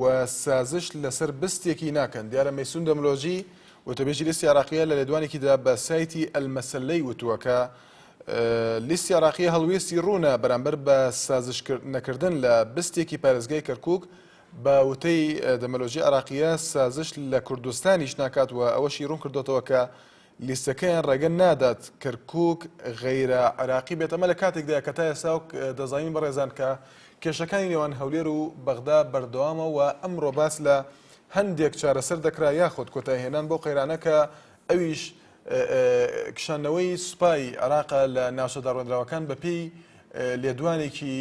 و سازش لەسەر بستێکی ناکەن، دیارە مەیسون دەملۆجی، وتەبێژی لیستی عێراقییە لە لێدوانێکیدا بە سایتی ئەلمەسەلەی وتووە کە لیستی عێراقییە هەڵوێستی روونە بەرامبەر بە سازش نەکردن لە بستێکی پارێزگای کەرکووک، بە وتەی دەملۆجی عێراقییە سازش لە کوردستانیش ناکات و ئەوەشی روونکردۆتەوە کە لیستەکەیان ڕێگە نادات کەرکوک غەیرە عێراقی بێت، ئەمە لە کاتێکدایە کە تا ئێستا وەک دەزانین بەڕێزان کە کێشەکانی نێوان هەولێر و بەغدا بەردەوامە و ئەمڕۆ باس لە هەندێک چارەسەر دەکرا یاخود کۆتایهێنان بەو قەیرانە کە ئەویش کشانەوەی سوپای عێراقە لە ناوچە داڕێندراوەکان بەپێی لێدوانێکی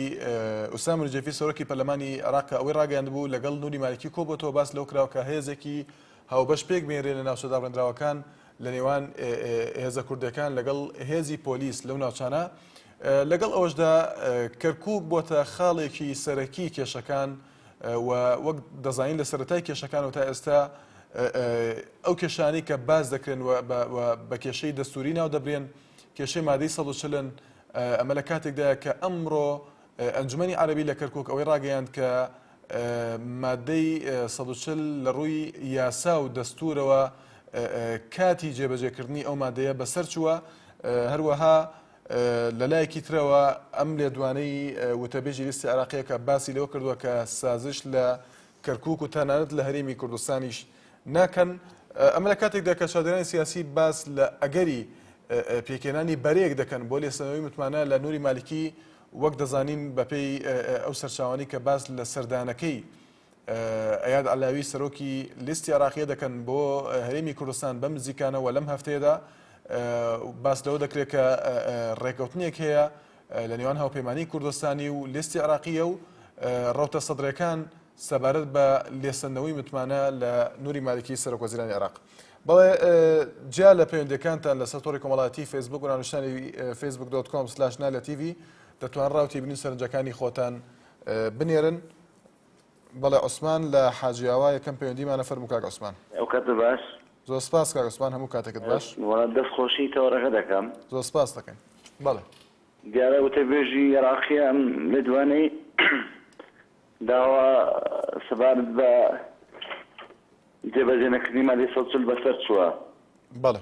ئوسام رجێفی سەرۆکی پەرلەمانی عێراق کە ئەوەی ڕاگەیاندبوو لەگەڵ نوری مالکی کۆبۆتەوە باس لەو کراوە کە هێزێکی هاوبەش پێک بهێنرێت لە ناوچە دابڕێندراوەکان لە نێوان هێزە کوردەکان لەگەڵ هێزی پۆلیس لەو ناوچانە لەگەڵ ئەوەشدا کەرکک بۆتە خاڵێکی سەرەکی کێشەکان و وەک دەزانین لە سەرەتای کێشەکان و تا ئێستا ئەو کێشانی کە باز دەکرێن بە کێشەی دەستوری ناو دەبرێن کێشەی مادەی سەڵچلن ئەمە لە کاتێکدا کە ئەمڕۆ ئەنجومەنی عەرەبی لە کەرکوک ئەوەی ڕاگەیاند کە مادەی سەد و چل لە ڕووی یاسا و دەستوورەوە کاتی جێبەجێکردنی ئەو مادەیە بەسەرچووە، هەروەها لەلایەکی ترەوە ئەم لێدوانەی وتەبێژی لیستی عێراقییەکە باسی لەوە کردووە کە سازش لە کەرکوک و تەنانەت لە هەرێمی کوردستانیش ناکەن، ئەمە لە کاتێکدا کە چادرانی سیاسی باس لە ئەگەری پێکهێنانی بەرەیەک دەکەن بۆ لێسەندنەوەی متمانە لە نوری مالکی، وەک دەزانین بەپێی ئەو سەرچاوانەی کە باس لە سەردانەکەی ئەیاد عەلاوی سەرۆکی لیستی عێراقیە دەکەن بۆ هەرێمی کوردستان بەم نزیکانەوە لەم هەفتەیەدا باس لەوە دەکرێت کە ڕێکەوتنێک هەیە لە نێوان هاوپەیمانیی کوردستانی و لێستی عێراقییە و ڕەوتە سەدرەکان سەبارەت بە لێسەندنەوەی متمانە لە نوری مالکی سەرۆکوەزیرانی عێراق بەڵێ جیا لە پەیوەندەکانتان لەسەر تۆڕی کۆمەڵاتی فەیسبوک و ناونشانی فەیسبوک دۆت کۆم سلاش نالە تیڤی دەتوان ڕاوتی بنین سەرنجەکانی خۆتان بنێرن بەڵێ عوسمان لە حاجی ئاوا یەکەم پەیوەندیمانە فەرموو کاک عوسمان. ئەوکاتە باش. زۆر سپاس کاک عوسمان هەموو کاتەکت باش. وەڵا دەست خۆشی تەوەرەکە دەکەم. زۆر سپاست دەکەین بەڵێ. دیارە وتەبێژی ئێراقیە ئەم لێدوانەی داوە سەبارەت بە جێبەجێ نەکردنی مادەی سەد و چل بەسەر چووە. بەڵێ.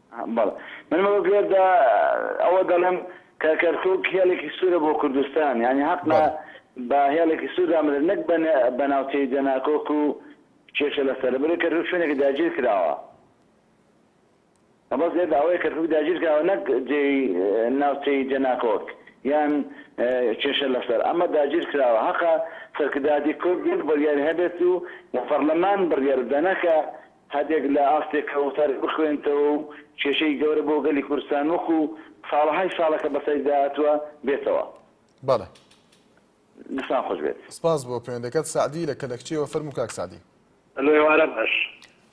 بەڵێ من بە گوێردا ئەوە دەڵێم کە کەرکوک هێڵێکی سوورە بۆ کوردستان یعنی هەقە بە هێڵێکی سووردا بدرێت نەک بە ناوچەی جەناکۆک و کێشە لەسەر بەێ کەرکوک شوێنێکی داگیر کراوە بەس لێدا ئەوەیە کەرکوک داگیر کراوە نەک جێ ناوچەی جەناکۆک یان کێشە لەسەر ئەمە داگیر کراوە هەقە سەرکرداتی کورد بڕیار هەبێت و لە پەرلەمان بڕیار بدەنەکە هەردێک لە ئاستێک کە وتارێک بخوێنتەوە و کێشەی گەورە بۆ گەلی کوردستان وەکوو ساڵەهای ساڵە کە بەسەری داهاتووە بێتەوە. بەڵێ. دەستان خۆش بێت. سپاس بۆ پەیوەندەکەت. سەعدی لە کەلەکچییەوە، فەرموو کاک سەعدی. هەلۆ ئێوارە باش.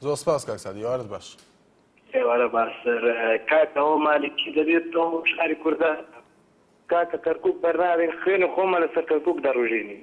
زۆر سپاس کاک سەعدی، ئێوارەت باش. ئێوارە باش. کاک ئەوە مالکی دەبێت تۆ شاری کوردان. کاکە کەرکووک بەرناگرین، خوێنی خۆمان لەسەر کەرکووک دەڕوژێنین.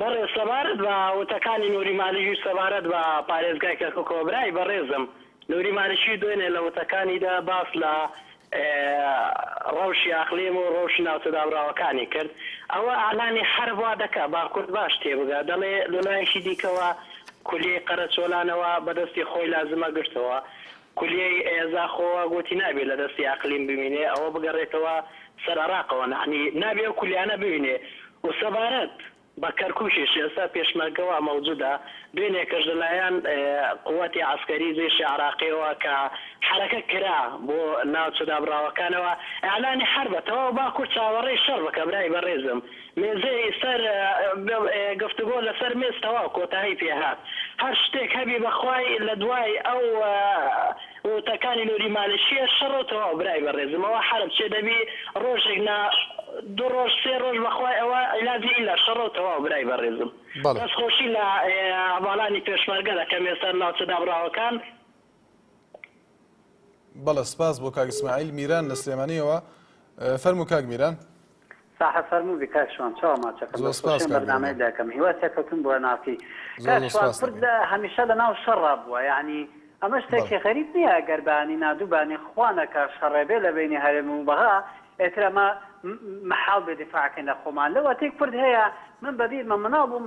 بەڕێز سەبارەت بە وتەکانی نوری مالیکی سەبارەت بە پارێزگای کەرکوکەوە برای بەڕێزم نوری مالیکی دوێنێ لە وتەکانیدا باس لە ڕەوشی ئەقلیم و ڕەوشی ناوچە دابڕاوەکانی کرد ئەوە ئیعلامی حەرب وا دەکا با کورد باش تێبگا دەڵێ لەلایەکی دیکەوە کولیەی قەرەچۆلانەوە بەدەستی خۆی لازمە گرتەوە کولیەی ئێزا خۆ گۆتی نابێ لە دەستی ئەقلیم بمینێ ئەوە بگەڕێتەوە سەر ئەراقەوە نەعنی نابێ ئەو کولیانە بمینێ و سەبارەت بە کەرکوکیش ئێستا پێشمەرگە وا مەوجودە دوێنێکەش لە لایەن قوەتی عەسکەری جەیشی عەراقیەوە کە حەرەکە کرا بۆ ناوچە دابڕاوەکانەوە ئیعلانی حەربە تەواو باکور چاوەڕێی شەڕ بکە برای بەڕێزم مێزێی سەر گفتوگۆ لەسەر مێز تەواو کۆتایی پێهات هەر شتێک هەبی بەخوای لەدوای ئەو ووتەکانی نوری مالکیە شەڕۆ تەواو برای بەڕێزم ئەوە حەرب چێ دەبی ڕۆژێک نا دوو ڕۆژ سێ ڕۆژ بەخوای ئەوە علاجی ئیلا شەڕۆ تەواو برای بەڕێزم دەست خۆشی لە هەڤالانی پێشمەرگە دەکەم یە سەر ناوچە دابڕاوەکان. بەڵێ سپاس بۆ کاک اسماعیل میران لە سلێمانیەوە فەرمو کاک میران ساحە فەرمو بکاک شوان چاوە ماچەکەم بەرنامەی داکەم هیوا سەرکەوتن بۆ ناسی لە هەمیشە لە ناو شەڕا بووە یعنی ئەمە شتێکی غەریب نییە گەربانی نادووبانی خوانەکە شەڕێبێ لە بینی هەرێم و بەغا ئێترەمە محاڵ بێ دفاعکەین لە خۆمان لەوەتەی کورد هەیە من بەبیرمە مناڵ بووم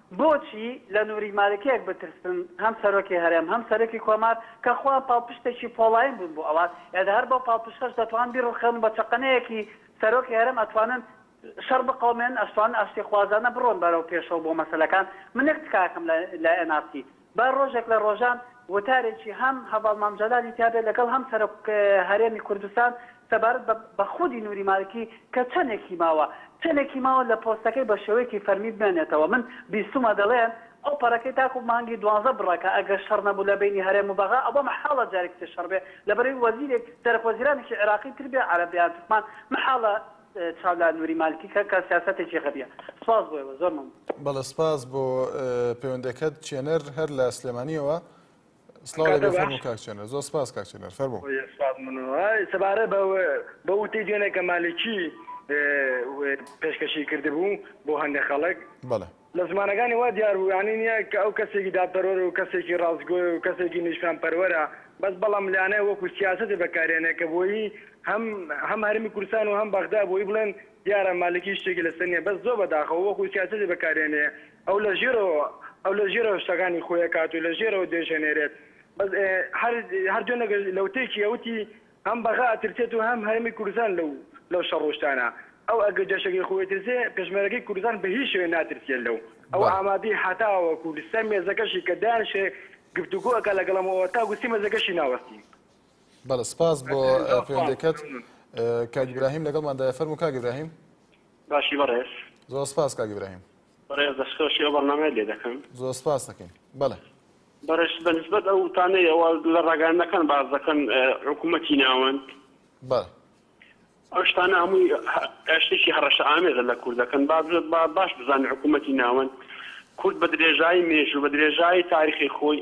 بۆچی لە نوری مالکیەک بترسن هەم سەرۆکی هەرێم هەم سەرۆکی کۆمار کە خۆیان پاڵپشتێکی پۆڵاین بوون بۆ ئەوان ئێ دە هەر بەو پاڵپشتەش دەتوان بیڕوخێنن بە چەقەنەیەکی سەرۆکی هەرێم ئەتوانن شەڕ بقەومێنن ئەشتوانن ئاشتیخوازانە بڕۆن بەرەو پێشەوە بۆ مەسەلەکان من یەک تکایەکەم لای ئەنارسی با ڕۆژێک لە ڕۆژان وتارێکی هەم هەڤاڵ مام جەلالی تیا بێت لەگەڵ هەم سەرۆک هەرێمی کوردستان سەبارەت بە بە خودی نوری مالکی کە چەنێکی ماوە چەنێکی ماوە لە پۆستەکەی بە شێوەیەکی فەرمی بمێنێتەوە من بیستومە دەڵێن ئەو پەڕەکەی تاکو مانگی دوانزە بڕەکە ئەگەر شەڕ نەبوو لە بەینی هەرێم و بەغا ئەوە مەحاڵە جارێکی تر شەڕ بێ لەبەرەوی وەزیرێک سەرەک وەزیرانێکی عێراقی تر بێ عەرەب یان تورکمان مەحاڵە چاو لە نوری مالکی کە کە سیاسەتێکی غەبیە سپاس بۆ ئێوە زۆر مەمنون. بەڵێ سپاس بۆ پەیوەندەکەت چێنەر هەر لە سلێمانیەوە سڵاو لێبێ فەرموو کاک چێنەر زۆر سپاس کاک چێنەر فەرموو. سپاس مەمنون سەبارەت بە بەو وتەی دوێنێ کە مالکی پێشکەشی کردبوو بۆ هەندێ خەڵک بەڵێ. لە زمانەکانی وا دیار بوو یانی نیە کە ئەو کەسێکی دادپەروەرە و کەسێکی ڕاستگۆیە و کەسێکی نیشتمانپەروەرە بەس بەڵام لانە وەکو سیاسەتێ بەکارێنێ کە بۆیی هەم هەم هەرێمی کوردستان و هەم بەغدا بۆیی بڵێن دیارە مالکی شتێکی لەسەر نیە بەس زۆر بەداخەوە وەکو سیاسەتێ بەکارێنێ ئەو لە ژێرەوە ئەو لە ژێرەوە شتەکانی خۆی ئەکات و لە ژێرەوە درێژ ئەنێرێت بەس هەر هەر دوێنێ لە وتەیەکی ئەوتی هەم بەغا ئەترسێت و هەم هەرێمی کوردستان لەو لەو شەڕ و شتانە ئەو ئەگەر جەشەگەی خۆی ئەترسێ پێشمەرەگەی کوردستان بە هیچ شێوەیە ناترسێ لەو ئەو بەڵێ ئامادەی هەتاوەکو سەر مێزەکەشی کە دانیشێ گفتوگۆ ئەکا لەگەڵ ئەمەوە تاکو سەر مێزەکەشی ناوەستی. بەڵێ سپاس بۆ ئەزیزی زۆر سپاس پەیوەندیەکەت مەمنون کاک ئەزیزی. ئیبراهیم لەگەڵماندایە فەرموو کاک ئیبراهیم. باشی بەڕێز. زۆر سپاس کاک ئیبراهیم. بەڕێز دەستخۆشی ئەو بەرنامەیە لێ دەکەم. زۆر سپاست دەکەین. بەڵێ. بەڕێز بە نسبەت ئەو وتانەی ئەوە لە ڕاگەیاندنەکان باس دەکەن حکوومەتی ناوەند. بەڵێ. ئەو شتانە هەمووی شتێکی هەڕەشە ئامێزە لە کوردەکان. با بزە با باش بزانن حکوومەتی ناوەند کورد بە درێژایی مێژوو بە درێژایی تاریخی خۆی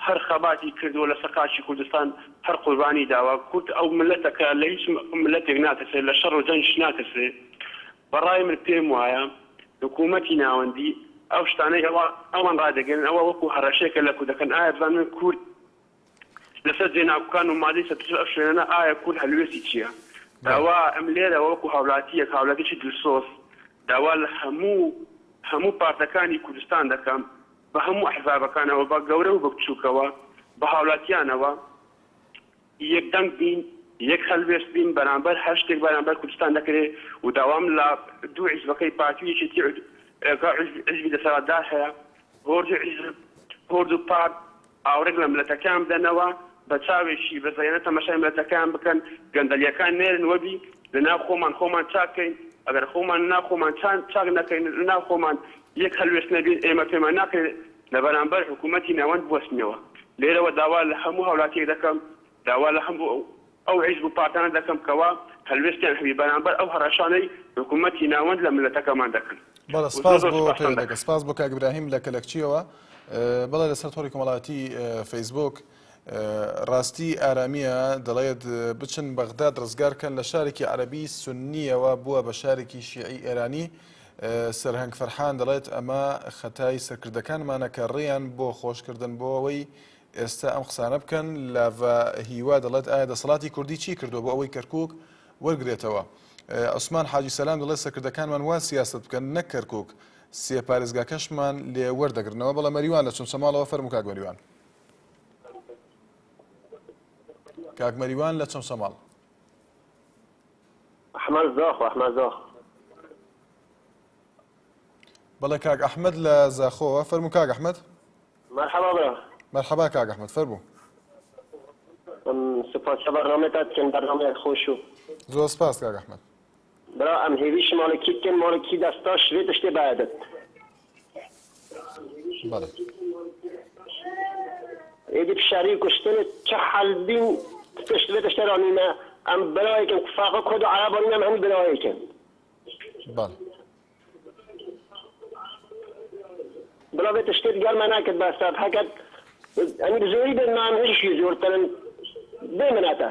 هەر خەباتی کردووە لەسەر خاکی کوردستان هەر قوربانی داوە. کورد ئەو میللەتە کە لە هیچ میللەتێک ناترسێ لە شەڕ و جەنگیش ناترسێ. بەڕای من پێم وایە حکوومەتی ناوەندی ئەو شتانەی ئەوە ئەوان ڕادەگەیەنن ئەوە وەکوو هەڕەشەیەکە لە کوردەکان ئایا بزانن کورد لەسەر جێناکۆکان و مادەی سەد و چل ئەو شوێنانە ئایا کورد هەلوێستی چییە؟ بەڵێ. ئەوە ئەم لێرەوە وەکوو هاوولاتییەک هاوولاتییەکی دلسۆز داوا لە هەموو هەموو پارتەکانی کوردستان دەکەم بە هەموو ئەحزابەکانەوە بە گەورە و بە بچووکەوە بە هاوولاتییانەوە یەک دەنگ بین، یەک هەلوێست بین بەرامبەر هەر شتێک بەرامبەر کوردستان دەکرێ و داوام لە دوو حیزبەکەی پارتی و یەکێتی و کە حیزبی دەسەلاتدار هەیە هۆرد و حیزب هۆرد و پارت ئاورێک لە مللەتەکەیان بدەنەوە بە چاوێکی بزەیەنە تەمەشای مللەتەکەیان بکەن گەندەلیەکان نێرن وەبی لە ناو خۆمان خۆمان چاک کەین ئەگەر خۆمان لە ناو خۆمان چاک نەکەین لە ناو خۆمان یەک هەلوێست نەبین ئێمە پێمان ناکرێ لە بەرامبەر حکوومەتی ناوەند بوەستنەوە. لێرەوە داوا لە هەموو هاوولاتییەک دەکەم، داوا لە هەموو ئەو حیزب و پارتانە دەکەم کەوا هەلوێستیان هەبی بەرامبەر ئەو هەڕەشانەی حکوومەتی ناوەند لە مللەتەکەمان دەکەن. بەڵێ زۆر سپاس زۆر بۆ سوپاستان پەیوەندەکە دەکەم. سپاس بۆ کاک براهیم لە کەلەکچییەوە. بەڵێ لەسەر تۆڕی کۆمەڵایەتی فەیسبووک. ڕاستی ئارامیە دەڵێت بچن بەغداد ڕزگارکەن لە شارێکی عەربی سنیەوە بووە بە شارێکی شیعی ئێرانی سەرهنگ فەرحان دەڵێت ئەمە خەتای سەرکردەکانمانە کە ڕێیان بۆ خۆشکردن بۆ ئەوەی ئێستا ئەم قسانە بکەن لاڤە هیوا دەڵێت ئایا دەسەڵاتی کوردی چی کردو بۆ ئەوەی کەرکک وەرگێتەوە عوسمان حاجی سەسلام دەڵێت سەکردەکانمان وا سیاست بکەن نەک کەرکک سێ پارێزگاکەشمان لێ وەردەگرنەوە بەڵە مەریوان لە چونچەماڵەوە فەرموکە گۆریوان. کاک مەریوان لە چەمچەماڵ. ئەحمەد زاخۆ ئەحمەد زاخۆ بەڵێ کاک ئەحمەد لە زاخۆوە فەرموو کاک ئەحمەد مرحبا برا مرحبا کاک ئەحمەد فەرموو سپاس لە بەرنامەتان بکەن بەرنامەیەک خۆش و زۆر سپاس کاک ئەحمەد برا ئەم هێویش ماڵێ کی بکەن ماڵێ کی دەستا شرێ تشتێ بایەدت. بەڵێ. ئێدی فشاری کوشتن چ حەل بین تشت لێ تشتێ رانینە ئەم برایەکەم فاقە کورد و عەرەب رانینە ئەم هەنی برایەکەم. بەڵێ. برا بێ تشتێت گەرمە ناکرد بە سەب هەکەت ئەنی بزۆری بێت مام هێشی زۆرترن بێ منەتە.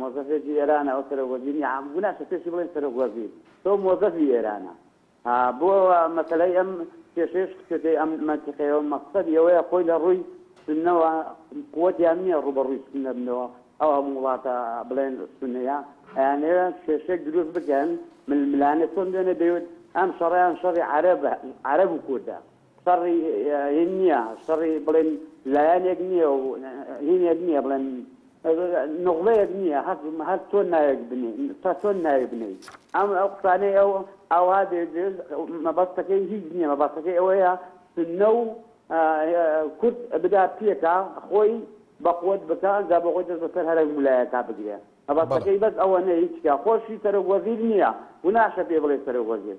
مۆزەفێکی ئێرانە ئەو سەرۆک وەزیرنیە ها گو ناشە پێشی بڵێن سەرۆک وەزیر تۆ مۆزەفی ئێرانە ها بۆ مەسەلەی ئەم کێشەیش خچێتەی ئەم مەنتیقەیەوە مەقسەدی ئەوەیە خۆی لە ڕووی سنەوە قوتیان نییە ڕوبەڕووی سنە بنەوە ئەو هەم وڵاتە بڵێن سنەیە ئەیانەوە کێشێک دروست بکەن ململانێ چۆن دوێنێ دەیوت ئەم شەڕیان شەڕی عەرەبە عەرەب و کوردە شەڕی هین نییە، شەڕی بڵێن لایەنێک نییە و هینێک نییە بڵێن نوغبەیەک نییە هەر تۆ ناوێک بنێ تا تۆن ناوێ بنێی ئەم ئەو قسانەی ئەو ئاوا دێژ مەبەستەکەی هیچ نییە مەبەستەکەی ئەوەیە سنە و کورد بدا پێکا خۆی بەقوت بکە ئەنجا بۆ خۆی دەست بەسەر هەرە ملایەکە بگرێ مەبەستەکەی بەس ئەوە نە هیچکە خۆشی سەرۆک وەزیر نییە و ناشە پێ بڵێ سەرۆک وەزیر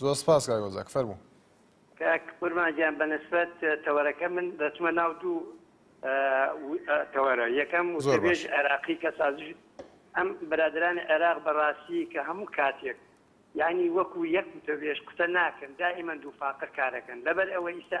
زۆر سپاس کاک ئۆزاک فەرموو. کاک خورما گیان بەنسبەت تەوەرەکە من دەچمە ناو دوو تەوەرە یەکەم وتەبێژ عێراقی کە سازش ئەم برادرانی عێراق بەڕاستی کە هەموو کاتێک یانی وەکو یەک وتەبێژ قسە ناکەن دائیمەن دووفاقە کارەکەن لەبەر ئەوە ئیستا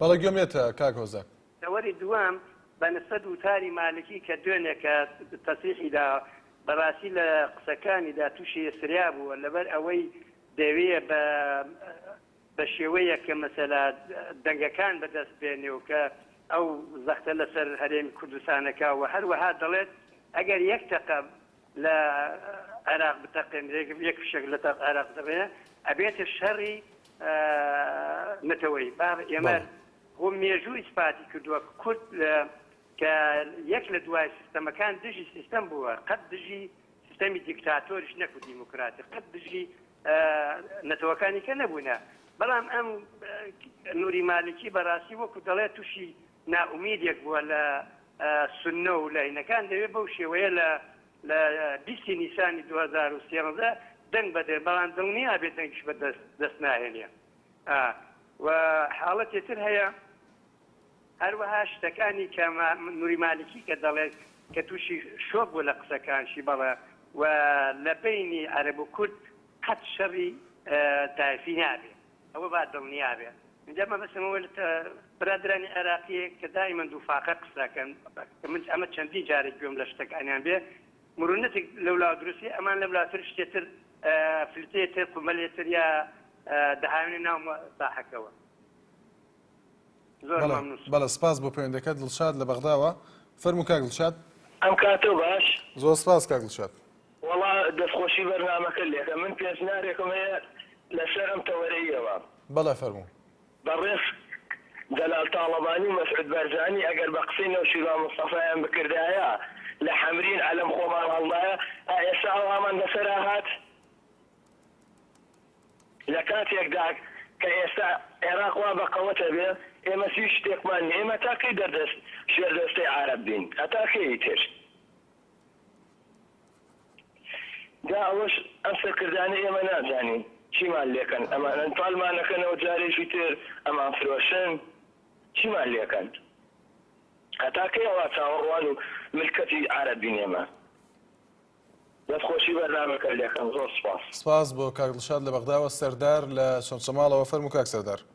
بەڵێ گوێم لێتە کاک هۆزان. تەوەری دووەم بە نسبەت وتاری مالکی کە دوێنێکە تەسریحی دا بەراستی لە قسەکانیدا توشی هستریا بووە لەبەر ئەوەی دەیەوێ بە بە شێوەیەک کە مەسەلا دەنگەکان بە دەست بێنێ و کە ئەو زەختە لەسەر هەرێمی کوردستانەکا و هەروەها دەڵێت ئەگەر یەک تەقە لە عێراق بتەقێنرێ یەک فشەک لە تەق عێراق دەبێ ئەبێتە شەڕی نەتەوەی با ئێمە هۆ مێژوو ئیسپاتی کردووە کورد کە یەک لە دوای سیستەمەکان دژی سیستەم بووە قەت دژی سیستەمی دیکتاتۆریش نەکو دیموکراتی قەت دژی نەتەوەکانی کە نەبوونە بەڵام ئەم نوری مالکی بەڕاستی وەکو دەڵێت تووشی نائومیدێک بووە لە سوننە و لاینەکان دەوێت بەو شێوەیە لە لە بیست ی نیسانی دوو هەزار و سێزدە دەنگ بەدەن بەڵام دڵنیا بێت دەنگیش بە دەست دەست ناهێنێ ئا و حاڵەتێ تر هەیە هەروەها شتەکانی کە ما نوری مالکی کە دەڵێ کە تووشی شۆک بوو لە قسەکانشی بەڵێ و لە بەینی عەرەب و کورد قەت شەڕی تایفی نابێ ئەوە با دڵنیا بێ ئینجا مەبەستم ئەوە لە برادەرانی عێراقی کە دائیمەن دوو فاقە قسە ئەکەن کە من ئەمە چەندین جارێک گوێم لە شتەکانیان بێ مرونەتێک لەولا دروستی ئەمان لەولاتر شتێتر فلتێ تر قومەلێ تر یا دەهاوێنە ناو ساحەکەوە زۆر بەڵێ مەمنون بەڵێ سپاس بۆ پەیوەندەکەت دڵشاد لە بەغداوە فەرموو کاک دڵشاد ئەم کاتەو باش. زۆر سپاس کاک دڵشاد. وەڵا دەست خۆشی بەرنامەکە لێکە من پێنج نارێکم هەیە لەسەر ئەم تەوەرەییەوە. بەڵێ فەرموو. بەڕێز جەلال تاڵەبانی و مەسعود بەرزانی ئەگەر بە قسەی نەوشیروان مستەفایان بکردایە لە حەمرین عەلەم خۆمان هەڵدایە ئا ئێستا ئەوهامان بەسەرا هات لە کاتێکدا کە ئێستا عێراق وا بە قەوەتە بێ ئێمەس هیچ شتێکمان نیە ئێمە تا کەی دەردەست ژێردەستەی عارەب بین هەتا کەی ئیتر. جا ئەوەش ئەم سەرکردانەی ئێمە نازانین چیمان لێکەن ئەمانەن پالمانەکەنەوە جارێکی تر ئەمان فرۆشن چیمان لێکەن هەتا کەی ئەوا چاوەڕوان و ملکەچی عارەب بین ئێمە دەست خۆشی بەرنامەکەت لێکەم زۆر سوپاس. سپاس بۆ کاک دڵشاد لە بەغداوە. سەردار لە چەمچەماڵەوە، فەرموو کاک سەردار.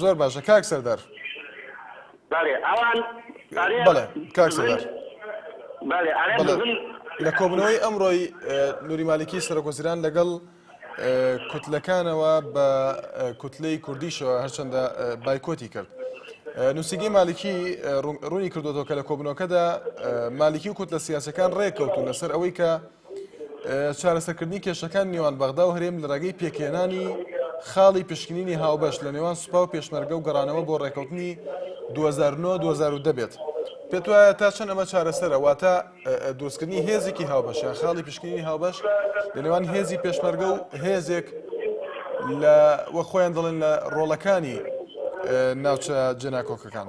زۆر باشە کاک سەردار بەێ ئەوان بەڵێ کاک سەردار لە کۆبنەوەی ئەمڕۆی نوری مالکی سەرۆکۆزیران لەگەڵ کوتلەکانەوە بە کوتلەی کوردیشەوە هەرچەندە بایکۆتی کرد. نووسگی مالکی ڕوونی کردوەوە کە لە کۆبنەوەکەدا مالکی و کوتلە سیاسەکان ڕێککەوتون لەسەر ئەوەی کە چارەسەرکردنی کێشەکانی نێوان بەغدا و هەرێم لە ڕێگەی پێکهێنانی خاڵی پشکنینی هاوبەش لە نێوان سوپا و پێشمەرگە و گەڕانەوە بۆ ڕێکەوتنی 2009 دەبێت پێت وایە تا چەند ئەمە چارەسەرە واتە دروستکردنی هێزێکی هاوبەش یا خاڵی پشکنینی هاوبەش لە نێوان هێزی پێشمەرگە و هێزێک لە وە خۆیان دەڵێن لە ڕۆڵەکانی ناوچە جێناکۆکەکان.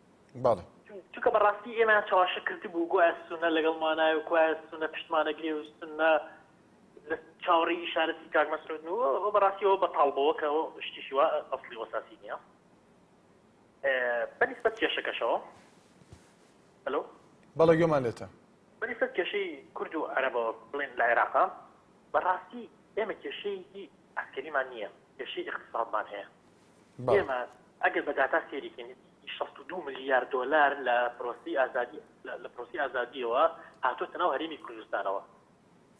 بەڵێ. چونکە بەڕاستی ئێمەیان چەواشە کردبوو گوایە سونە لەگەڵمانایە و گوایە سونە پشتمان ئەگرێ و سونە لە چاوەڕێی ئیشارەتی کاک مەسعودن و ئەوە بەڕاستی ئەوە بەتاڵ بووە کە شتیشی وا ئەسڵی و ئەساسی نییە بەنیسبەت کێشەکەشەوە هەلۆ بەڵێ گوێمان لێتە بەنیسبەت کێشەی کورد و عەرەبەوە بڵێن لە عێراقا بەڕاستی ئێمە کێشەیەکی عەسکەریمان نییە کێشەی اقتصادمان هەیە ئێمە ئەگەر بە داتا سێریکەین شەست و دوو ملیار دۆلار لە پرۆسی ئازادی لە پرۆسی ئازادیەوە هاتۆتە ناو هەرێمی کوردستانەوە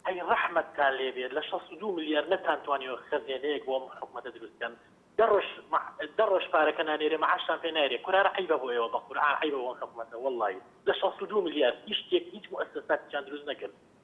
هەی ڕەحمەتتان لێبێت لە 62 ملیار نەتانتوانی و خەزێنەیەک بۆ ئەم حکوومەتە دروستکەن دەڕۆژ دەڕۆژ پارەکە نانێرێ معاشتان پێ نایرێ کورارە عیبە بۆ ئێوە بە قورعان عیبە بۆ حکوومەتە وڵی لە 62 ملیار هیچ شتێک هیچ مؤسساتیان دروست نەکرد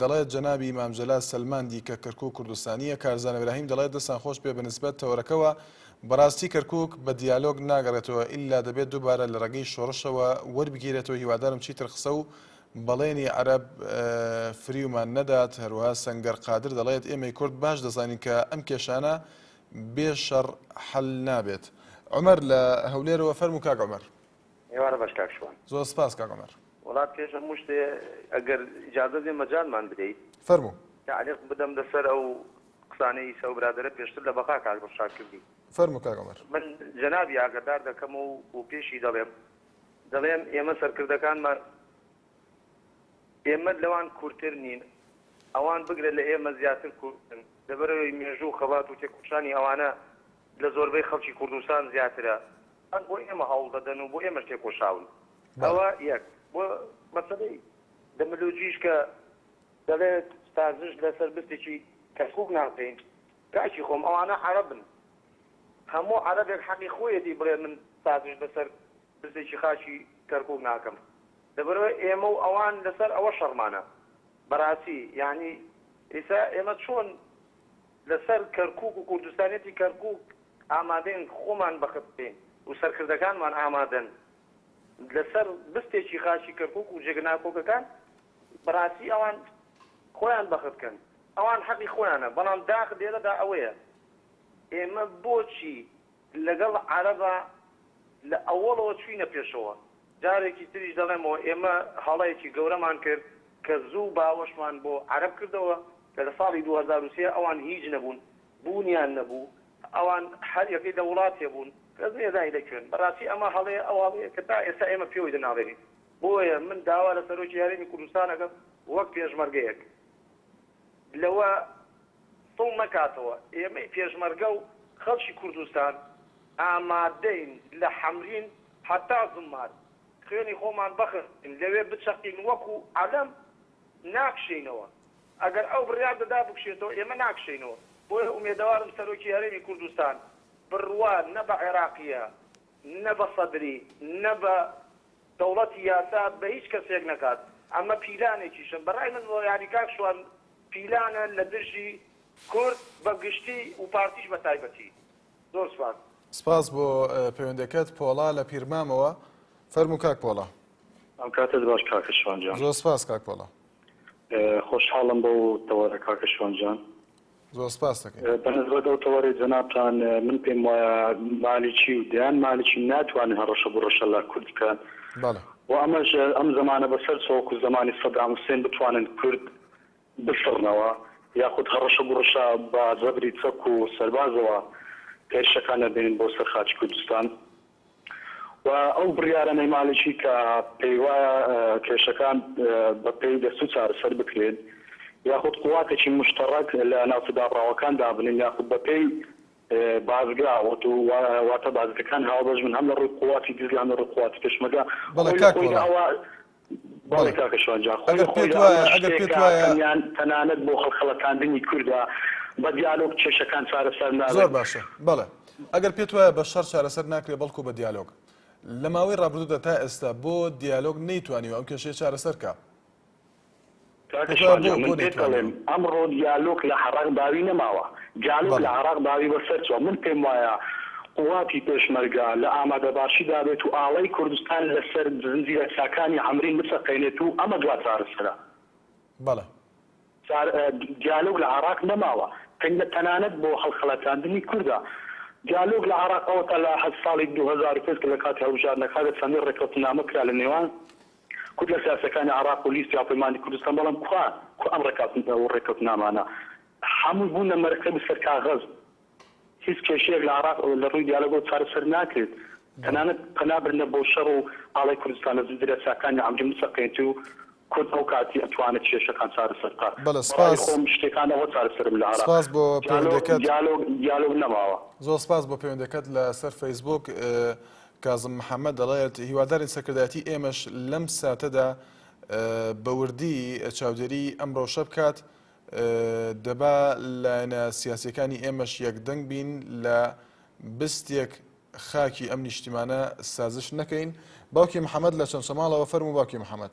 دەڵێت جەنابی مام جەلال سەلماندی کە کەرکوک کوردستانییە، کارزان ئیبراهیم دەڵێت دەستان خۆش بێ بەنسبەت تەوەرەکەوە بەڕاستی کەرکوک بە دیالۆگ ناگەڕێتەوە ئیلا دەبێت دوبارە لە ڕێگەی شۆڕشەوە وەربگیرێتەوە هیوادارم چیتر قسە و بەڵێنی عەرەب فریومان نەدات هەروەها سەنگەر قادر دەڵێت ئێمەی کورد باش دەزانین کە ئەم کێشانە بێ شەڕ حەل نابێت عومەر لە هەولێرەوە فەرموو کاک عومەر. ئێوارە بەش کاک شوان. زۆر سپاس کاک عومەر. وەڵا پێش هەموو شتێ ئەگەر ئیجازە بێ مەجالمان بدەیت. فەرموو. تەعلیق بدەم لەسەر ئەو قسانەی ئیسە ئەو برادەرە پێشتر لە بەقا کاک دڵشاد کردی. فەرموو کاک عومەر. من جەنابی ئاگەدار دەکەم و و پێشی دەڵێم دەڵێم ئێمە سەرکردەکانمان ئێمە لەوان کورتر نین ئەوان بگرە لە ئێمە زیاتر کورتن لەبەرئەوەی مێژوو و خەبات و تێکۆشانی ئەوانە لە زۆربەی خەڵکی کوردستان زیاترە هەر بۆ ئێمە هەوڵ دەدەن و بۆ ئێمەش تێکۆشاون. ئەوە یەک. بۆ مەسەلەی دەملۆجیش کە دەڵێت سازش لەسەر بستێکی کەرکووک ناکەین، کاکی خۆم ئەوانە عەرەبن. هەموو عەرەبێک حەقی خۆیەتی بڵێ من سازش لەسەر بستێکی خاکی کەرکووک ناکەم. لەبەرئەوەی ئێمە و ئەوان لەسەر ئەوە شەڕمانە. بەڕاستی یانی ئیستا ئێمە چۆن. لەسەر کەرکوک و کوردستانیەتی کەرکوک ئامادەین خۆمان بەخت بکەین و سەرکردەکانمان ئامادەن لەسەر بستێکی خاکی کەرکوک و جێگە ناکۆکەکان بەراستی ئەوان خۆیان بەخت بکەن ئەوان حەقی خۆیانە بەڵام داخ لێرەدا ئەوەیە ئێمە بۆچی لەگەڵ عەرەبا لە ئەوەڵەوە چووینە پێشەوە، جارێکی تریش دەڵێمەوە ئێمە هەڵەیەکی گەورەمان کرد کە زوو باوەشمان بۆ عەرەب کردەوە کە لە ساڵی دوو هەزار و سێ ئەوان هیچ نەبوون بوونیان نەبوو ئەوان هەر یەکەی لە وڵاتێ بوون کەس نەیزانی لە کوێن بەڕاستی ئەمە هەڵەیە ئەو هەڵەیە کە تا ئێستا ئێمە پێوەی دەناڵێنین بۆیە من داوا لە سەرۆکی هەرێمی کوردستان ئەکەم وەک پێشمەرگەیەک. لەوە سڵ نەکاتەوە، ئێمەی پێشمەرگە و خەڵکی کوردستان ئامادەین لە حەمرین هەتا زوممار خوێنی خۆمان بخزێنین، لەوێ بچەقین وەکو عەلەم ناکشێینەوە، ئەگەر ئەو بڕیار دەدا بکشێتەوە ئێمە ناکشێینەوە، بۆیە ئومێدەوارم سەرۆکی هەرێمی کوردستان بڕوا نە بە عێراقییە، نە بە سەدری نە بە دەوڵەتی یاسا بە هیچ کەسێک نەکات ئەمە پیلانێکیشە بە رای من یانی کاک شوان پیلانە لە دژی کورد بە گشتی و پارتیش بە تایبەتی زۆر سپاس. سپاس بۆ پەیوەندەکەت پۆڵا لە پیرمامەوە فەرموو کاک پۆڵا. ئەم کاتت باش کاکە شوان جان. زۆر سپاس کاک پۆڵا. خۆشحاڵم بەو تەوەرە کاکە شوان جان. زۆر سپاست دەکەین. بەنسبەت ئەو تەوەرەی جەنابتان من پێم وایە مالیکی و دەیان مالیکی ناتوانێ هەڕەشە بڕەشە لە کورد بکات و ئەمەش ئەم زەمانە بەسەر چوە وەکو زەمانی سەدام حوسێن بتوانن کورد بسڕنەوە یاخود هەڕەشە گوڕشە بە زەبری چەک و سەربازەوە هێرشەکان نەبێنن بۆ سەر خاکی کوردستان. و ئەو بڕیارەنەی مالکی کە پێیوایە کێشەکان بە پێی دەستور چارەسەر بکرێن یاخود قواتێکی موشتەڕەک لە ناوچە دابڕاوەکان دابنێن یاخود بە پێی بازگە واتە بازگەکان هاوبەش بن هەم لە ڕووی قواتی دز هەم لە ڕووی قواتی پێشمەرگە خۆی لە خۆیدا ئەوە بەڵێ کاکە شوان جان خۆی لە خۆیدا ئەمە شتێکە تەنیان تەنانەت بۆ هەڵخەڵەتاندنی کوردە بە دیالۆگ کێشەکان چارەسەر نابێت. زۆر باشە بەڵێ ئەگەر پێت وایە بە شەڕ چارەسەر ناکرێت بەڵکو بە دیالۆگ لە ماوەی ڕابردوودا تا ئێستا بۆ دیالۆگ نەیتوانیوە ئەم کێشەیە چارەسەر کا؟ کاک شوان من پێت دەڵێم ئەمڕۆ دیالۆک لە عەڕاق باوی نەماوە دیالۆک لە عەڕاق باوی بەسەر چوە من پێم وایە قوواتی پێشمەرگە لە ئامادە باشی دابێت و ئاڵای کوردستان لەسەر زنجیرە چاکانی عەمرین بچەقێنێت و ئەمە دوا چارەسەرە بەڵێ چار دیالۆک لە عەڕاق نەماوە تەنگە تەنانەت بۆ هەڵخەڵەتاندنی کوردە دیالۆک لە عەڕاق ئەوەتا لە هەر ساڵی دوو هەزار و پێنج کە لە کاتی هەڵبژاردنەکادا چەندین ڕێککەوتنامە کرا لە نێوان کورد لە سیاسەکانی عێراق و لیستی هاوپەیمانی کوردستان، بەڵام کوا کوا ئەم ڕێککەوتنە و ڕێککەوتنامانە؟ هەمووی بوون لە مەرەکەب و سەر کاغەز. هیچ کێشەیەک لە عێراق لە ڕووی دیالۆگەوە چارەسەر ناکرێت. تەنانەت پەنا برنە بۆ شەڕ و ئاڵای کوردستان لە زنجیرە چاکانی عەمری موسەقەیەتی و کورد ئەو کاتی ئەتوانێت کێشەکان چارەسەر بکات. بەڵێ سپاس. بەڕای خۆم شتێکان ئەوە چارەسەرن لە عێراق. سپاس بۆ پەیوەندەکەت. دیالۆگ دیالۆگ دیالۆگ نەماوە. زۆر سپاس بۆ پەیوەندەکەت لە سەر فەیسبووک. کازم محەمەد دەڵێت، هیوادارین سەرکردایەتی ئێمەش لەم ساتەدا بە وردی چاودێریی ئەم رەوشە بکات، دەبا لایەنە سیاسییەکانی ئێمەش یەکدەنگ بین لە بستێک خاکی ئەم نیشتیمانە سازش نەکەین. باوکی محەمەد لە چەمچەماڵەوە، فەرموو باوکی محەمەد.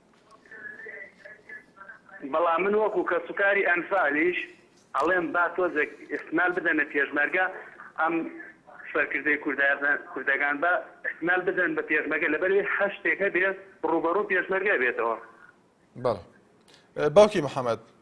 بەڵام من وەکو کەسوکاری ئەنفالیش ئەڵێم با تۆزێک ئیحتمال بدەنە پێشمەرگە ئەم سەرکردەی کوردەکان با ئیحتمال بدەن بە پێشمەگە لەبەروی هەر شتێک هەبێ ڕووبەڕوو پێشمەرگە بێتەوە. بەڵێ باوکی محمد.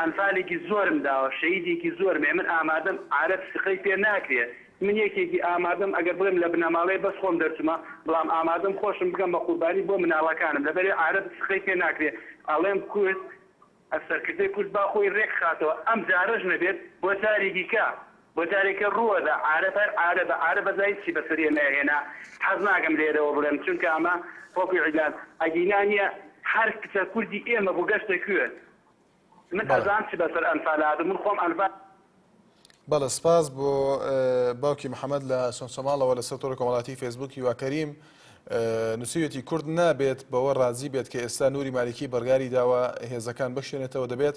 ئەنفالێکی زۆرم داوە شەهیدێکی زۆرم هەیە من ئامادەم عارەب سقەی پێ ناکرێ من یەکێکی ئامادەم ئەگەر بڵێم لە بنەماڵەیە بەس خۆم دەرچمە بڵام ئامادەم خۆشم بکەم بە قوربانی بۆ مناڵەکانم لەبەرئ عارەب سقەی پێ ناکرێ ئەڵێم کورد سەرکردەی کورد با خۆی رێک خاتەوە ئەم جارەش نەبێت بۆ جاری دیکە بۆ جارێکە رووەدە عارەب هەر عارەبە عارەبە جا هیچی بەسەر ئێمە ئەهێنا حەز ناکەم لێرەوە بڵێم چونکە ئەمە وەکو ئیلان ئەگینا نیە هەر کچە کوردی ئێمە بوو گەشتە کوێ. من ئەزان چ بەسەر ئەنفال هاتم من خۆم ئەنفال. بەڵێ سپاس بۆ باوکی محەمەد لە سۆنسۆماڵەوە لەسەر تۆڕی کۆمەڵاتی فێسبوک هیوا کەریم نووسویەتی کورد نابێت بەوە ڕازی بێت کە ئێستا نووری مالیکی بڕگاری داوە هێزەکان بەشێنێتەوە دەبێت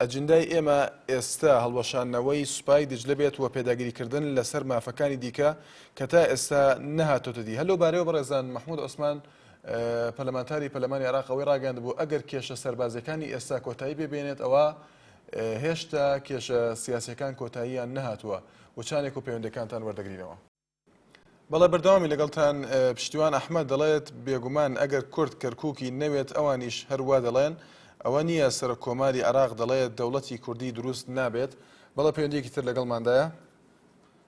ئەجندای ئێمە ئێستا هەڵوەشانەوەی سوپای دجلە بێت و پێداگیریکردن لەسەر مافەکانی دیکە کە تا ئێستا نەهاتۆتە دی هەلو بارەوە بەڕێزان مححمود عوسمان پەرلەمانتاری پەرلەمانی عێراق ئەوەی ڕاگەیاندبوو، ئەگەر کێشە سەربازییەکانی ئێستا کۆتایی پێ بێنێت، ئەوا هێشتا کێشە سیاسییەکان کۆتاییان نەهاتووە، وچانێک و پەیوەندییەکانتان وەردەگرینەوە. بەڵێ بەردەوامین لەگەڵتان. پشتیوان ئەحمەد دەڵێت، بێگومان ئەگەر کورد کەرکووکی نەوێت ئەوانیش هەر وا دەڵێن، ئەوە نییە سەرۆککۆماری عێراق دەڵێت دەوڵەتی کوردی دروست نابێت. بەڵێ پەیوەندییەکی تر لەگەڵماندایە.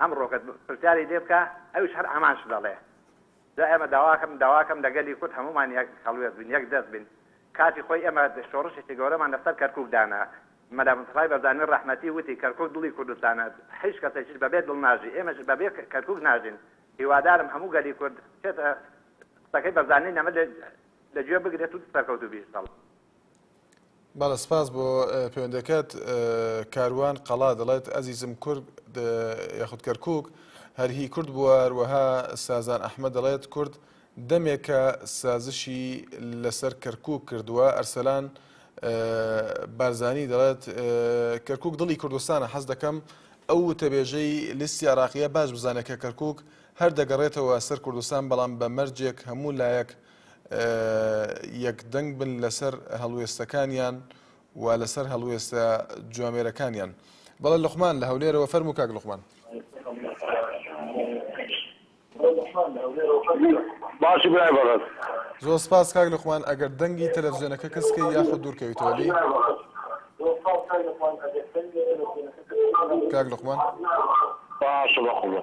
ئەمڕۆکەت پرسیاری لێ بکە ئەویش هەر ئامانجت دەڵێ جا ئێمە داواکەم داواکەم لە گەلی کورد هەموومان یەک هەڵوێست بین یەک دەست بین کاتی خۆی ئێمە شۆڕشێکی گەورەمان لە سەر کەرکوک دانا مەلا مستەفای بەرزانی ڕەحمەتی وتی کەرکوک دڵی کوردستانە هیچ کەسێکیش بەبێ دڵ ناژی ئێمەش بەبێ کەرکوک ناژین هیوادارم هەموو گەلی کورد چێتە قسەکەی بەرزانی نەمر لە گوێ بگرێت و سەرکەوتوبی ئینشاڵڵا بەڵێ سپاس بۆ پەیوەندەکەت کاروان قەڵا دەڵێت ئەزیزم کورد یاخود کەرکک هەر هی کورد بووە هەروەها سازان ئەحمە دەڵێت کورد دەمێکە سازشی لەسەر کەرکک کردووە ئەرسەلان بارزانی دەڵێت کەرکک دڵی کوردستانە حەز دەکەم ئەو وتەبێژەی لیستی عراقیە باش بزانێت کە کەرکک هەر دەگەڕێتەوە سەر کوردستان بەڵام بە مەرجێک هەموو لایەک یەک دەنگ بن لەسەر هەڵوێستەکانیان و لەسەر هەڵوێستە جوامێرەکانیان بەڵێ لقمان لە هەولێرەوە فەرمو کاک لقمان باشی برای بەڕێز زۆر سپاس کاک لقمان ئەگەر دەنگی تەلەڤزیۆنەکە کەسکە یاخود دوورکەویتەوە لی کاک لقمان باش بە قوڵە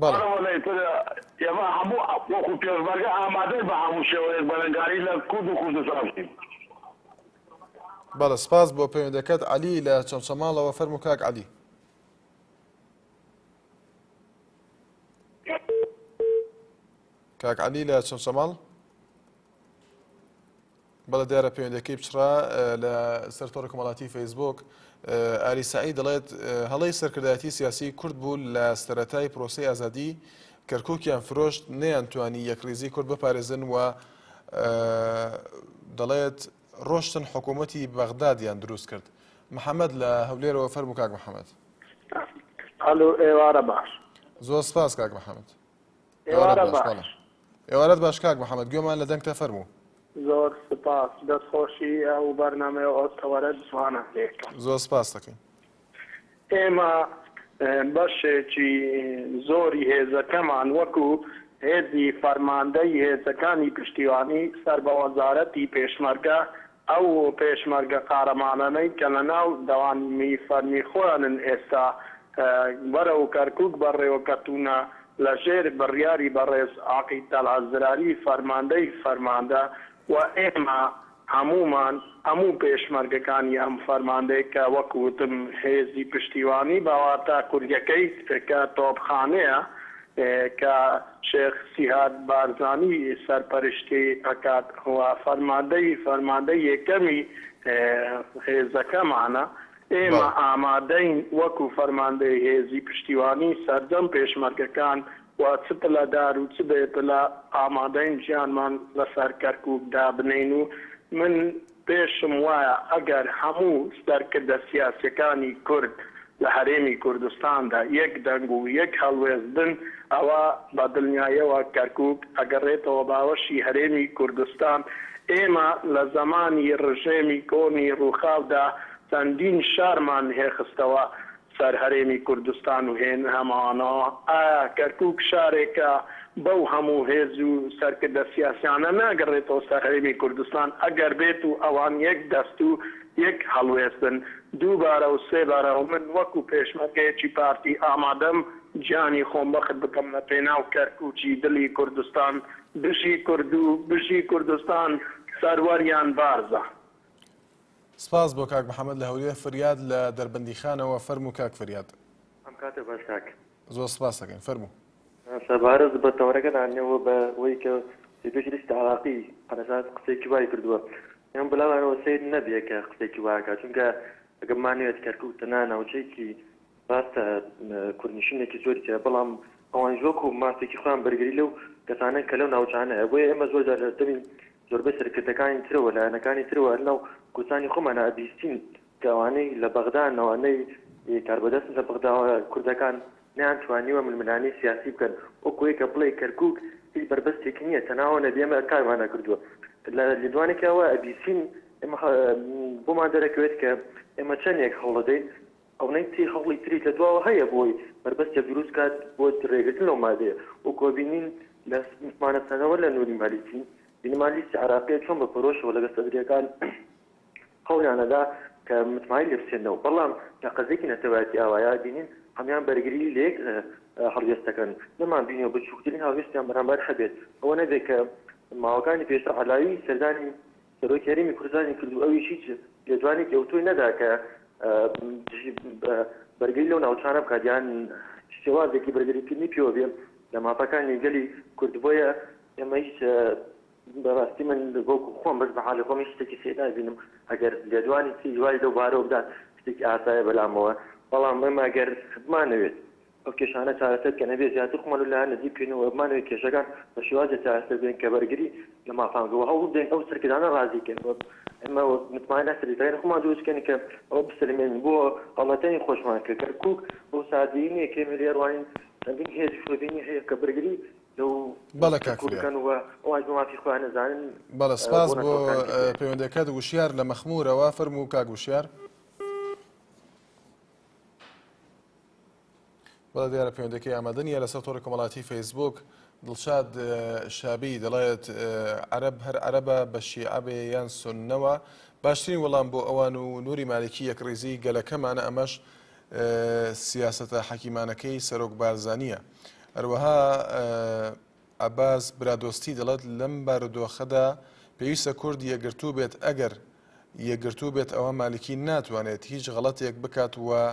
بەڵێ. بەڵێ سپاس بۆ پەیوەندەکەت عەلی لە چەمچەماڵەوە فەرموو کاک عەلی کاک عەلی لە چەمچەماڵ بەڵێ دیارە پەیوەندیەکەی پچڕا. لە سەر تۆڕی کۆمەڵاتی فەیسبووک ئاری سەعید دەڵێت هەڵەی سەرکردایەتی سیاسی کورد بوو لە سەرەتای پرۆسەی ئازادی کەرکووکیان فرۆشت نەیانتوانی یەکڕیزی کورد بپارێزن و دەڵێت ڕۆشتن حکوومەتی بەغدادیان دروست کرد. محەممەد لە هەولێرەوە فەرموو کاک محەممەد. ئەلۆ ئێوارە باش. زۆر سپاس کاک محەممەد. ئێوارە باش. ئێوارەت باش کاک محمد گوێمان لە دەنگتە فەرموو. زۆر سوپاس دەست خۆشی ئەو بەرنامەیە ئەو تەوەرە جوانە لێکە. زۆر سوپاست دەکەین. ئێمە بەشێکی زۆری هێزەکەمان وەکو هێزی فەرماندەی هێزەکانی پشتیوانی سەر بە وەزارەتی پێشمەرگە ئەو پێشمەرگە قارەمانانەی کە لە ناو دەوانی فەرمی خۆیانن ئێستا بەرەو کەرکوک بەڕێوە کەتوونە لە ژێر بڕیاری بەڕێز عەقید تەڵعەت زراری فەرماندەی فەرماندە و ئێمە هەموومان هەموو پێشمەرگەکانی ئەم فەرماندەی کە وەک وتم هێزی پشتیوانی بە واتا کوریەکەی کە تۆپخانەیە کە شێخ سیهاد بارزانی سەرپەرشتی ئەکات و فەرماندەی فەرماندەی یەکەمی هێزەکەمانە، ئێمە بەڵێ. ئامادەین وەکو فەرماندەی هێزی پشتیوانی سەرجەم پێشمەرگەکان و چ پلەدار و چ بێ پلە ئامادەین گیانمان لەسەر کەرکوک دابنێین و من، پێشم وایە ئەگەر هەموو سەرکردە سیاسیەکانی کورد لە هەرێمی کوردستاندا یەک دەنگ و یەک هەڵوێست بن ئەوا بە دڵنیایەوە کەرکوک ئەگەڕێتەوە باوەشی هەرێمی کوردستان، ئێمە لە زەمانی ڕژێمی کۆنی ڕوخاودا چەندین شارمان هێخستەوە سەر هەرێمی کوردستان و هێن هەمانە، ئایا کەرکوک شارێکە بەو هەموو هێز و سەرکردە سیاسیانە ناگەڕێتەوە سەر هەرێمی کوردستان، ئەگەر بێت و ئەوان یەک دەست و یەک هەڵوێست بن دووبارە و سێ بارە و من وەکو پێشمەرگەیەکی پارتی ئامادەم گیانی خۆم بەخت بکەم لە پێناو کەرکوکی دلی کوردستان بژی کوردو بژی کوردستان سەروەریان بارزە. سپاس بۆ کاک محمد لە هەولێر فریاد لە دەربەندیخانەوە فەرموو کاک فریاد. ئەم کاتە باش کاک. زۆر سپاست دەکەین فەرموو. سەبارەت بە تەوەرەکە دانەوە بە وەی کە سیدیک لیست عراقی عەلەساس قسەیەکی وای کردوە ئێمە بلامانەوە سەیر نەبیە کە قسەیەکی وا کات چونکە ئەگە بمانەوێت کەرکوک تەنها ناوچەیەکی راستە کوردنشینێکی زۆری تیا بەڵام ئەوانیش وەکو مافێکی خۆیان بەرگری لەو کەسانەن کە لەو ناوچانەیە بۆیە ئێمە زۆر جار لە دەمی زۆربەی سەرکردەکانی ترەوە لایەنەکانی ترەوە هەر لەناو کوردستانی خۆمانا ئەبیستین کە ئەوانەی لە بەغدان ئەوانەی کاربەدەستن لە بەغداوە کوردەکان نەیان توانیوە ململانێی سیاسی بکەن وەکو ئەوی کە بڵێی کەرکوک هیچ بەربەستێکی نیە تەناوە نەبی ئەمە کارمان نەکردوە لە لێدوانێکا وە ئەبیسین ئێمە بۆمان دەرەکەوێت کە ئێمە چەندێک هەوڵەدەین ئەونەی تری هەوڵی تریش لە دواوە هەیە بۆی بەربەستێک دروست کات بۆ رێگرتن لەو مادەیە وەکو ئەبینین لە متمانە سەرەوە لە نوری مالیکی مینمالیستی عراقیە چۆن بە پەرۆشەوە لەگە سەدریەکان هەولیان ئەدا کە متمانەی لێ بسێننەوە بەڵام لە قەزێکی نەتەوایەتی ئاوایە بینین هەمان بەرگری لە یەک هەڵوێست دەکەن نەمان بینیەوە بچووکترین هەڵوێستیان بەرامبەر هەبێت ئەوە نەبێت کە ماوەکانی پێشتر عەلاوی سەردانی سەرۆک هەرێمی کوردستانی کرد و ئەویش هیچ لێدوانێکی ئەوتۆی نەدا کە دژی بەرگری لەو ناوچانە بکات یان شێوازێکی بەرگریکردنی پێوە بێ لە مافەکانی گەلی کورد بۆیە ئێمە هیچ بەڕاستی من بۆکو خۆم بەس بە حالی خۆم هیچ شتێکی سێ نابینم ئەگەر لێدوانی تری وای لەو بارەوە بدات شتێکی ئاسایە بەلامەوە بەڵام ئێمە گەر بمانەوێت ئەو کێشانە چارەسەر کە نەبێ زیاتر خۆمان لە لایەن نزیک بکەین و بمانەوێ کێشەکان بە شێوازێ چارەسەر بێن کە بەرگری لە مافان بکەن و هەوڵ بدەین ئەو سەرکردانە ڕازی کەین و ئێمە وەک متمانە لە سەرکردەکانی خۆمان دروست بکەین کە ئەوە بسەلمێنین بۆ هەڵەکانی خۆشمان کە کەرکووک بەو سادەیی نییە کە ئێمە لێی ڕوانین چەندین هێز و شۆڤێنی هەیە کە بەرگری لەو بەڵێ کاک فریا کەرکووک بکەن و ئەوانیش بە مافی خۆیان نەزانن بەڵێ سپاس بۆ پەیوەندەکەت وشیار لە مەخموورەوە فەرموو کاک وشیار. بەڵێ دیارە پەیوەندەکەی ئامادە نیە لەسەر تۆڕی کۆمەڵاتی فەیسبوک دڵشاد شابی دەڵێت عەرب هەر عەربە بە شیعبێ یان سنەوە باشترین وەڵام بۆ ئەوان و نوری مالکی یەک ڕیزی گەلەکەمانە ئەمەش سیاستە حەکیمانەکەی سەرۆک بارزانیە هەروەها عباس برادۆستی دەڵێت لەم بارودۆخەدا پێویستە کورد یەگرتوو بێت ئەگەر یەگرتوو بێت ئەوە مالکی ناتوانێت هیچ غڵەتێک بکات وە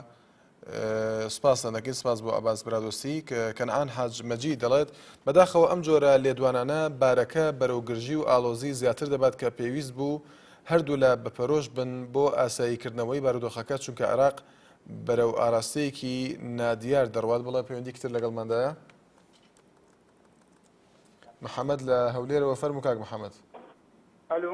سپاستان دەکەین سپاس بۆ ئەباس برادۆستی کەنعان حاج مەجی دەڵێت بەداخەوە ئەم جۆرە لێدوانانە بارەکە بەرەو گرژی و ئالۆزی زیاتر دەبات کە پێویست بوو هەردوو لە بەپەرۆش بن بۆ ئاساییکردنەوەی بارودۆخەکە چونکە عێراق بەرەو ئاراستەیەکی نادیار دەڕوات بڵێ پەیوەندی کتر لەگەڵماندایە محەممەد لە هەولێرەوە فەرمو کاک محەممەد ئەلو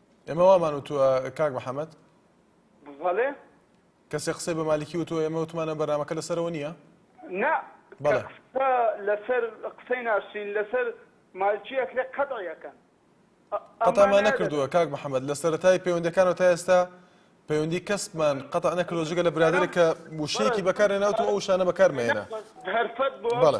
ئێمە وامان وتووە کاک محەمەد بەڵێ کەسێک قسەی بە مالکی وتووە ئێمە وتمانە بەرنامەکە لەسەرەوە نییە نا بەڵێ لەسەر قسەی ناشرین لەسەر مالکی ئەکرێ قەتعیەکەن قەتامان نەکردووە کاک محەممەد لە سەرەتای پەیوەندەکانەوە تا ئێستا پەیوەندی کەسمان قەت نەکردۆ جگە لە برادێک کە وشەیەکی بەکارێ ناوتەوە ئەو شانە بەکارمێنە هەرفەت بۆ بەڵێ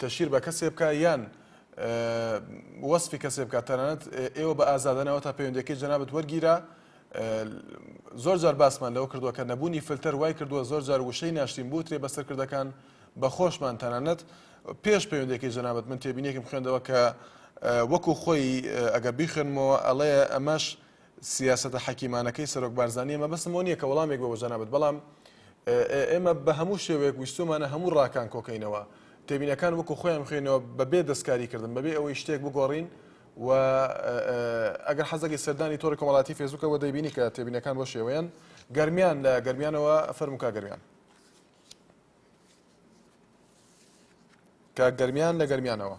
تەشیر بە کەسێ بکە یان وەسفی کەسێ بکە تەنانەت ئێوە بە ئازادەنەوە تا پەیوەندەکەی جەنابەت وەرگیرە زۆر جار باسمان لەوە کردووە کە نەبوونی فلتەر وای کردووە زۆر جار وشەی ناشتین بوترێ بەسەرکردەکان بە خۆشمان تەنانەت پێش پەیوەندەکەی جەنابەت من تێبینێکم خوێندەوە کە وەکو خۆی ئەگەر بیخوێنمەوە ئەڵێ ئەمەش سیاسەتە حەکیمانەکەی سەرۆک بارزانییە، مەبەستم ئەوە نییە کە وەڵامێک بە بۆ جەنابت، بەڵام ئێمە بە هەموو شێوەیەک ویستوومانە هەموو ڕاکان کۆکەینەوە، تێبینەکان وەکو خۆیان بخوێنەوە بەبێ دەستکاری کردن، بەبێ ئەوەی شتێک بگۆڕین و ئەگەر حەز دەکەی سەردانی تۆڕی کۆمەڵاتی فێسبووکەوە دەیبینی کە تێبینەکان بۆ شێوەیەن گەرمیان لە گەرمیانەوە فەرموو کا گەرمیان. کاک گەرمیان لە گەرمیانەوە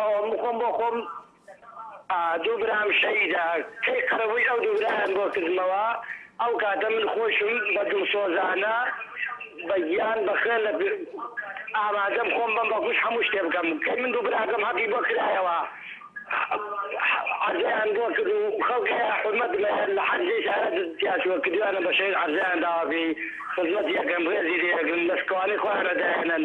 ئەوە من خۆم بۆ خۆم دوو برام شەهیدە کەی قەرەبووی ئەو دوو برایان بۆ کردمەوە ئەو کاتە من خۆشم بە دڵسۆزانە بە گیان بە خوێن لە ئامادەم خۆم بەم بە گوش هەموو شتێ بکەم کەی من دوو براکەم هەقی بۆ کرایەوە عەرزەیان بۆ کرد و خەڵکی حورمەت لە لە حەرجەی سارە دزیا چووە کردویانە بە شەهید عەرزەیان داوا پێی خزمەتی ئەکەن ڕێزی لێ ئەگرن لە شکوانی خۆیان ئەدایەنن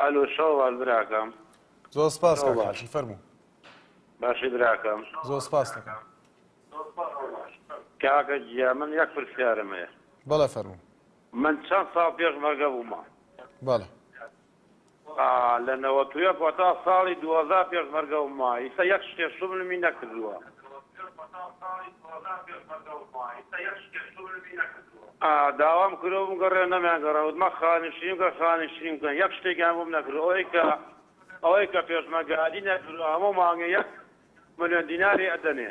ئەلۆ شەوەڵ براکەم زۆر سپاس کاک حاجی فەرموو. باشی براکەم زۆر سپاست دەکەم. کاکە گیان من یەک پرسیارم هەیە. بەڵێ فەرموو. من چەند ساڵ پێش مەرگە بوومە. بەڵێ. لە نەوەت و یەک وەتا ساڵی دووەزار پێشمەرگە وم وا ئیسە یەک شتێ سوبلمی نەکردووە. داوام کرۆ بمگەڕێ نەمیان گەڕێ وتمە خانشین بکە خانشین بکەن یەک شتێکیان بۆم نەکرد ئەوەی کە ئەوەی کە پێشمەگەادی نەکردوە هەموو مانگێ یەک ملیۆن دیناری ئەدەنێ.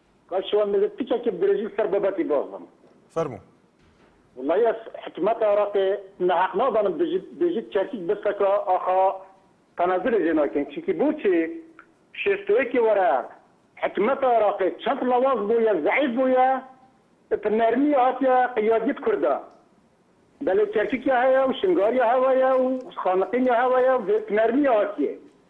کاک شوان بزر تیکەکێ درێژی سەر بەبەتی بازم. فەرموو. وەڵایی ئەز حکومەت عێڕاقێ نەهەق نازانم بژی بێژیت کەرکیک برسەکا ئاخا تەنازولێ ژێ ناکەین چونکی بوچی شێست و یەکێ وەرە حکومەت عێڕاقێ چەند ڵەواز بویە زەعیف بویە ئپ نەرمی هاتیە قیادیەت کوردا بەلێ کەرکیک یا هەیە و شنگار یا هەوەیە و خانەقین یا هەوەیە و پ نەرمی هاتیە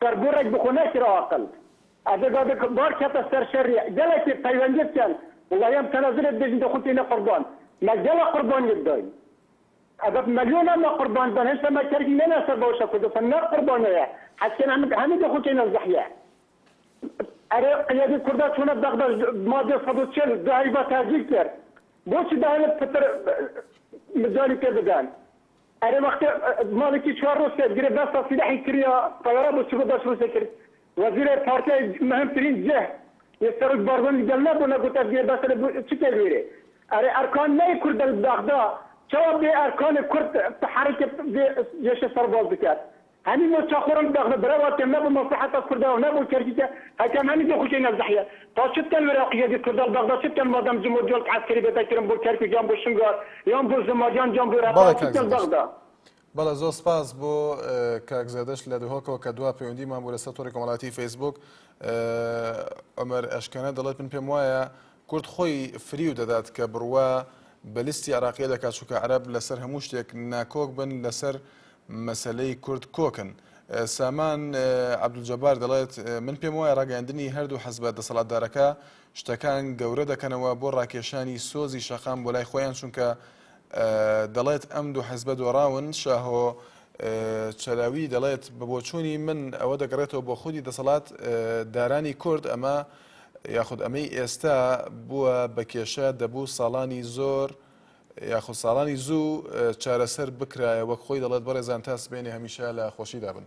سەر گوڕێک بخۆ نەکرا ئاقل. ئەدە دادە بار کەتە سەر شەری گەلەکی پەیوەندیت کەن وڵای ئەم تەنازولەت بێژن دە خۆت تینە قوربان مە گەلە قوربانیت داین ئەبەت مەلیۆنە مە قوربان بەن هێشتا مە کەرکی نەنا سەر بەوشە کوردستان نە قوربانێە حەزکەن ئەم هەمی دە خۆ تینە زەحیە ئەرێ قیادی کوردا چۆنە بەغدا مادە سەد و چل دو هەیڤا تاجیک کرد بۆچی بە هەلە پتر مجالی پێ بدەن ئەرێ وەختێ ماڵێکی چوار ڕۆژ کەس گرفت دەستا سیلاحی کریا تەیارە بۆ چگو بەش ڕووسێ کرد وەزیرێ پارتیای مهم ترین جه یێ سەرۆک بارزانی گەل نە بۆ نەگوتە گێ بەسەرێ بو چ کەی لوێرێ ئەرێ ئەرکان نەی کورد دەل بەغدا چەوا بێ ئەرکانێ کورد تحەریکێ بێ جێشێ سەرباز بکەت هەنی مۆ چە خۆرم دە غنە برە واتێم نە بو مە سە حەتە کوردا و نە بو کە رگیکە هە کەم هەنی دە خوشێ نە زحیە تا چت کەن ورە قیە دی کورداڵ بە غدا چت کەن ما دەم جمو جۆلک عە سکری بێ تە کرم بو کەرکوک یان بو شنگال یان بو زما یان جان بو رە بەڵێ پاڵ چت کاک کەن بە زەردەشت غدا. بەڵێ زۆر سپاس بۆ کاک زەردەشت لە دهۆکەوە کە دوا پەیوەندیمان بوو لەسەر تۆڕی کۆمەڵایەتی فەیسبووک عومەر ئەشکەنە دەڵێت من پێم وایە کورد خۆی فریو دەدات کە بڕوا بە لیستی عراقیە دەکات چونکە عەرەب لەسەر هەموو شتێک ناکۆک بن لەسەر مەسەلەی کورد کۆکن. سامان عەبدولجەبار دەڵێت من پێم وایە ڕاگەیاندنی هەردوو حەزبە دەسەڵاتدارەکە شتەکان گەورە دەکەنەوە بۆ ڕاکێشانی سۆزی شەقام بۆ لای خۆیان چونکە دەڵێت ئەم دوو حەزبە دۆڕاون شاهۆ چەلاوی دەڵێت بە بۆچوونی من ئەوە دەگەڕێتەوە بۆ خودی دەسەڵات دارانی کورد ئەمە یاخود ئەمەی ئێستا بووە بە کێشە دەبوو ساڵانی زۆر یاخود ساڵانی زوو چارەسەر بکرایە وەک خۆی دەڵێت بەڕێزان تا سبێنێ هەمیشە لە خۆشیدا بن.